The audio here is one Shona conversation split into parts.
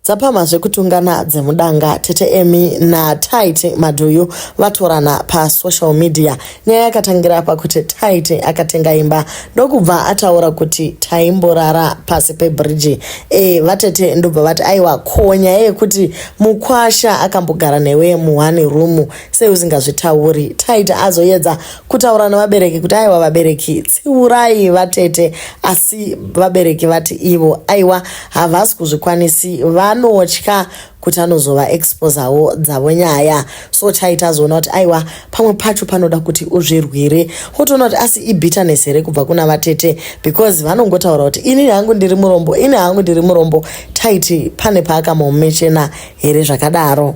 Dzapamha zvekutungana dzemudanga tete Amy naTaite Madhuyu vatorana pasocial media. Nyaya yakatangira pakuti Taite akatenga imba ndokubva ataura kuti taimborara pasi pebridge. E, vatete ndobva vati aiwa ko nyaya yekuti mukwasha akambogara newe muone room sei usingazvitauri. Taite azoyedza kutaura nevabereki kuti aiwa vabereki tsiurai vatete asi vabereki vati ivo aiwa havasi kuzvikwanisi vanotya kuti anozova exposawo dzavo nyaya so chai tazoona kuti aiwa pamwe pacho panoda kuti uzvirwire wotoona kuti asi ibitterness here kubva kuna vatete because vanongotaura kuti ini hangu ndiri murombo ini hangu ndiri murombo taiti pane paakamomechena here zvakadaro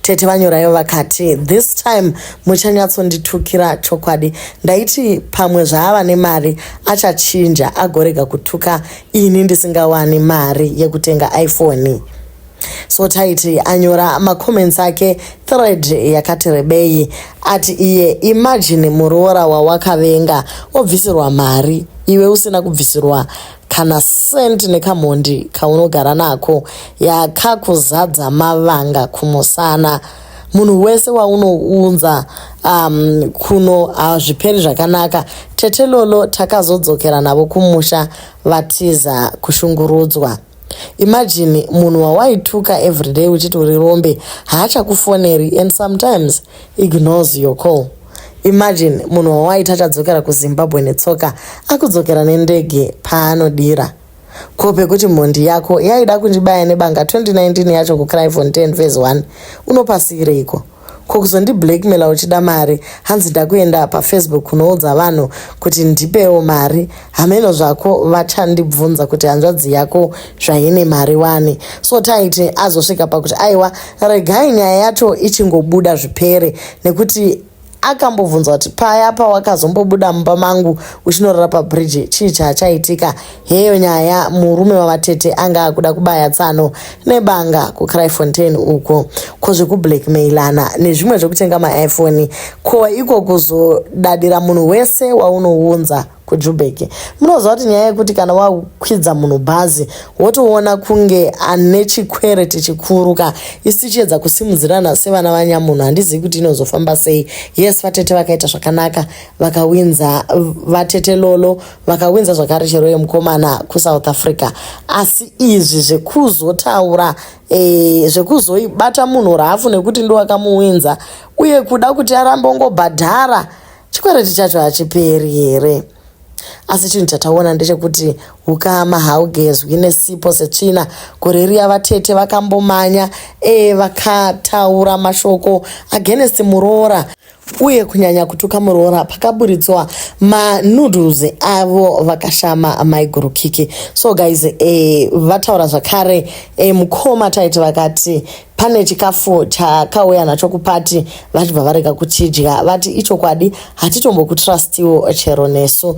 tete vanyoraivo vakati this time muchanyatsonditukira chokwadi ndaiti pamwe zvaava nemari achachinja agorega kutuka ini ndisingawani mari yekutenga iphone so taiti anyora macomments ake thread yakati rebei ati iye imagine muroora wawakavenga obvisirwa mari iwe usina kubvisirwa kana sent nekamhondi kaunogara nako yakakuzadza mavanga kumusana munhu wese waunounza um, kuno hazviperi uh, zvakanaka tete lolo takazodzokera navo kumusha vatiza kushungurudzwa imajini munhu wawaituka everyday uchiti uri rombe haachakufoneri and sometimes ignores your call Imagine munhu wawaita achadzokera kuZimbabwe netsoka akudzokera nendege paanodira. Ko pekuti mhondi yako yaida kundibaya nebanga 2019 yacho kuCryfontein phase 1 unopasiireiko? Ko kuzondiblackmaila uchida mari hanzi ndakuenda pafacebook kunoudza vanhu kuti ndipewo mari hameno zvako vachandibvunza kuti hanzvadzi yako zvaine mari wani so taiti azosvika pakuti aiwa regai nyaya yacho ichingobuda zvipere nekuti akambobvunza kuti paya pawakazombobuda mumba mangu uchinorara pabridge chii chaachaitika heyo nyaya murume wavatete anga akuda kubaya tsano nebanga kucryfontain uko ko zvekublackmailana nezvimwe zvekutenga maiphone ko iko kuzodadira munhu wese waunounza kujubeki munoziva kuti nyaya yekuti kana wakwidza munhu bhazi wotoona kunge ane chikwereti chikuru ka isi tichiedza kusimudzirana sevana vanyamunhu handizivi kuti inozofamba sei yes vatete vakaita zvakanaka vakawinza vatete lolo vakawinza zvakare chero yemukomana kusouth africa asi izvi zvekuzotaura e, zvekuzoibata munhu rafu nekuti ndowakamuwinza uye kuda kuti arambe ongobhadhara chikwereti chacho hachiperi here asi chinhu chataona ndechekuti ukama haugezwi nesipo setsvina gore riya vatete vakambomanya e vakataura mashoko agenesi muroora uye kunyanya kutuka muroora pakaburitswa manoodles avo vakashama maiguru kiki so guys eh, vataura zvakare eh, mukoma taiti vakati pane chikafu chakauya nacho kupati vachibva varega kuchidya vati ichokwadi hatitombokutrastiwo chero nesu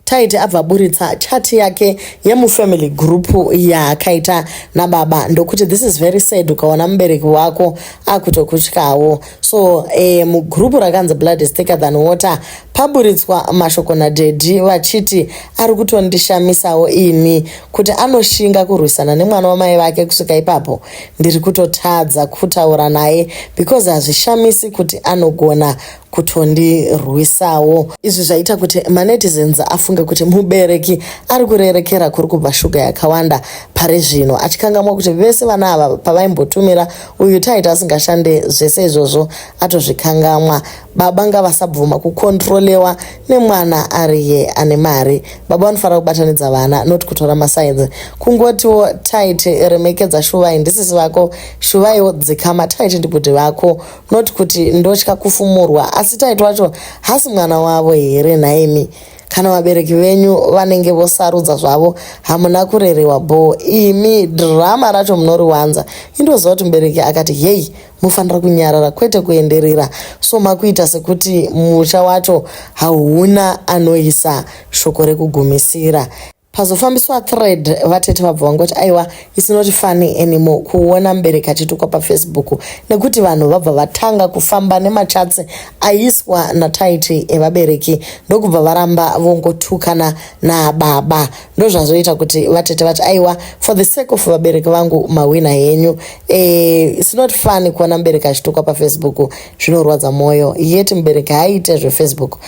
Taiti abva aburitsa chat yake yemufamily group yaakaita nababa ndokuti this is very sad ukaona mubereki wako akutokutyawo so eh, mugroup rakanzi blood is thicker than water paburitswa mashoko nadhedhi vachiti ari kutondishamisawo ini kuti anoshinga kurwisana nemwana wamai vake kusvika ipapo ndiri kutotadza kutaura naye because hazvishamisi kuti anogona kutondirwisawo izvi zvaita kuti manetizens afunge kuti mubereki ari kurerekera kuri kubva shuga yakawanda pari zvino achikangamwa kuti vese vana ava pavaimbotumira uyu taita asingashande zvese izvozvo atozvikangamwa baba ngavasabvuma kukontrolewa nemwana ariye ane mari baba vanofanira kubatanidza vana not kutora masainzi kungotiwo taiti remekedza shuvai ndisisi vako shuvaiwo dzikama taiti ndibhudhi vako not kuti ndotya kufumurwa asi taiti wacho hasi mwana wavo here nhaimi kana vabereki venyu vanenge vosarudza zvavo hamuna kurerewa bho imi drama racho munoriwanza indoziva kuti mubereki akati heyi mufanira kunyarara kwete kuenderera so makuita sekuti musha wacho hauna anoisa shoko rekugumisira pazofambiswa thread vatete vabva vangoti aiwa it's not funny anymore kuona mubereki achitukwa pafacebook nekuti vanhu vabva vatanga kufamba nemachatsi aiswa nataiti evabereki ndokubva varamba vongotukana nababa ndozvazoita kuti vatete vati aiwa for the sake of vabereki vangu mahwina henyu e, it's not funny kuona mubereki achitukwa pafacebook zvinorwadza mwoyo yeti mubereki haaite zvefacebook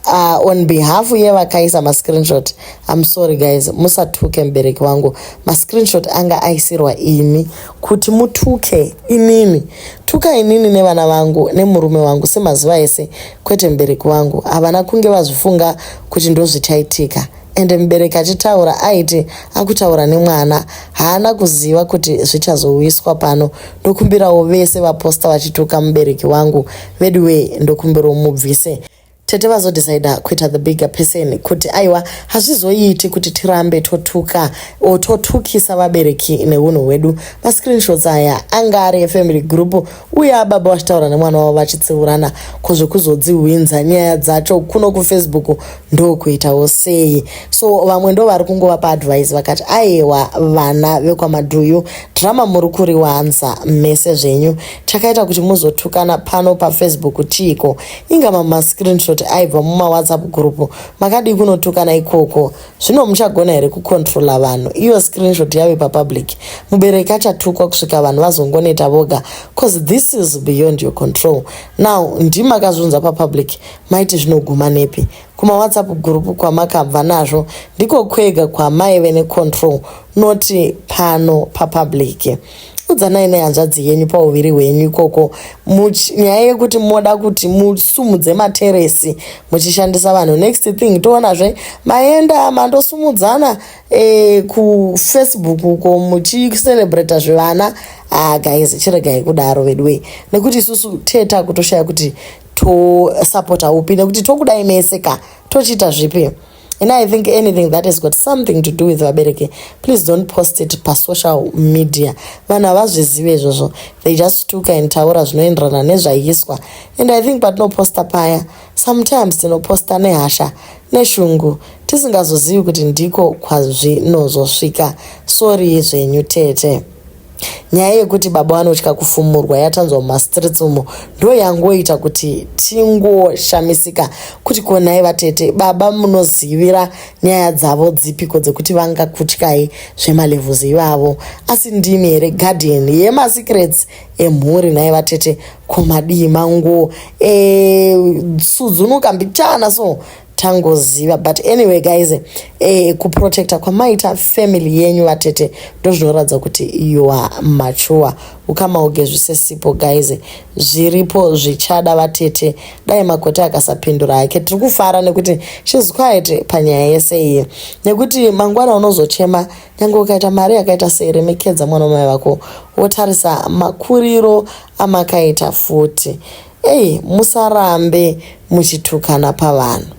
uh, on behalf yevakaisa mascreenshot I'm sorry guys, musatuke mubereki wangu. Ma screenshot anga aisirwa imi kuti mutuke inini. Tuka inini nevana vangu nemurume wangu semazuva ese kwete mubereki wangu. Havana kunge vazvifunga kuti ndozvichaitika. And mubereki achitaura aiti akutaura nemwana haana kuziva kuti zvichazowiswa pano. Ndokumbirawo vese vaposta vachituka mubereki wangu veduwee ndokumbirawo mubvise. tete vazodecider kuita the bigger person kuti aiwa hazvizoiti kuti tirambe totuka or totukisa vabereki neunhu hwedu mascreenshots aya anga ari efamily group uye ababa vachitaura nemwana wavo vachitsiurana ko zvekuzodzihwinza nyaya dzacho kuno kufacebook ndokuitawo sei so vamwe ndo vari kungova paadvise vakati ayewa vana vekwamadhuyu drama muri kuriwanza mese zvenyu chakaita kuti muzotukana pano pafacebook chiiko inga mama screenshot aibva mumawhatsapp group makadii kunotukana ikoko zvino muchagona here kucontrola vanhu iyo screenshot yave papublic mubereki achatukwa kusvika vanhu vazongoneta voga cause this is beyond your control now ndimakazvunza papublic maiti zvinoguma nepi kumawhatsapp group kwamakabva nazvo ndiko kwega kwamaive necontrol noti pano papublic pa udzanai nehanzvadzi yenyu pauviri hwenyu ikoko nyaya yekuti moda kuti musumudze materesi muchishandisa vanhu next thing toonazve maenda mandosumudzana e, kufacebook uko muchicelebrata zvevana ah guys chiregai kudaro veduwei nekuti isusu teta kutoshaya kuti tosapota upi nekuti tokudai mese ka tochiita zvipi and i think anything that has got something to do with vabereki please don't post it pasocial media vanhu havazvizive izvozvo they just stuka and taura zvinoenderana nezvaiswa and i think patinoposta paya sometimes tinoposta nehasha neshungu tisingazozivi kuti ndiko kwazvinozosvika sorry zvenyu tete Nyaya yekuti baba vanotya kufumurwa yatanzwa mumastreets umo ndo yangoita kuti tingoshamisika kuti konai vatete baba munozivira nyaya dzavo dzipiko dzekuti vangakutyai zvemalevels ivavo asi ndimi here guardian yemasecrets emhuri nhai vatete komadii mango e, sudzunuka mbichana so tangoziva but anyway guys eh, kuprotecta kwamaita family yenyu vatete ndozvinoratidza kuti you are mature ukama ugezvise sipo guys zviripo zvichada vatete dai makoti akasapindura hake tiri kufara nekuti shes quiet panyaya yese iyi nekuti mangwana unozochema nyange ukaita mari yakaita sei remekedza mwana wamai vako wotarisa makuriro amakaita futi ei musarambe muchitukana pavanhu